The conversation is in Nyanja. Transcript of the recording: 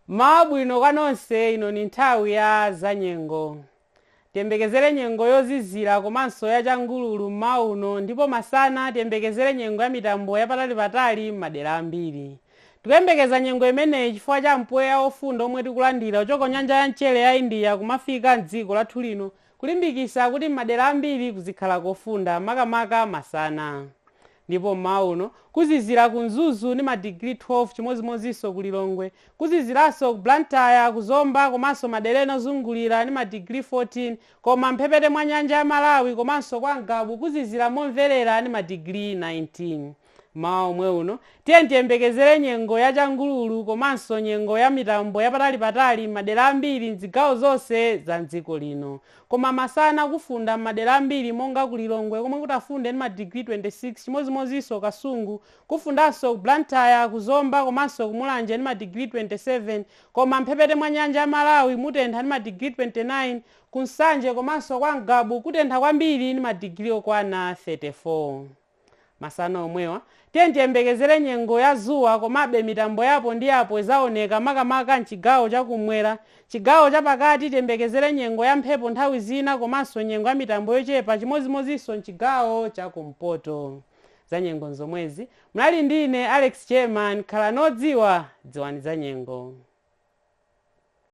mmawa wabwino kwa nonse ino ni nthawi ya zanyengo tiyembekezere nyengo yozizira komanso ya changululu mmawa uno ndipo masana tiyembekezere nyengo ya mitambo yapatalipatali m'madera ambiri tikuyembekezera nyengo imeneyi chifukwa cha mpweya wofunda omwe tikulandira kuchoka nyanja ya mchere ya india kumafika mdziko lathu lino kulimbikitsa kuti m'madera ambiri kuzikhala kofunda makamaka masana ndipo m'mawa uno kuzizira ku Mzuzu ndi ma digiri 12 chimodzimodzinso ku Lilongwe, kuziziranso ku Blantyre, ku Zomba komanso madera ena ozungulira ndi ma digiri 14 koma m'mphepete mwa nyanja ya Malawi komanso kwa Ngabu kuzizira momverera ndi ma digiri 19. Mmawa omwe uno, tiyeni tiyembekezere nyengo ya changululu komanso nyengo ya mitambo ya patalipatali m'madera ambiri m'zigawo zonse za m'dziko lino. Koma masana kufunda m'madera ambiri monga ku Lilongwe komwe kutafunde ndi ma digiri 26 chimodzimodzinso Kasungu, kufundanso ku Blantyre, ku Zomba komanso ku Mulanje ndi ma digiri 27 koma m'mphepete mwa nyanja ya Malawi mutentha ndi ma digiri 29, ku Nsanje komanso kwa Ngabu kutentha kwambiri ndi ma digiri okwana 34. Masana omwewa, tiyeni tiyembekezere nyengo ya dzuwa komabe mitambo ya apo ndi apo idzaoneka makamaka m'chigawo cha kummwera. Chigawo chapakati tiyembekezere nyengo ya mphepo nthawi zina komanso nyengo ya mitambo yochepa chimodzimodzinso m'chigawo cha kumpoto. Zanyengo n'zomwezi. Munali ndi ine Alex Jerman. Khalani odziwa, dziwani zanyengo.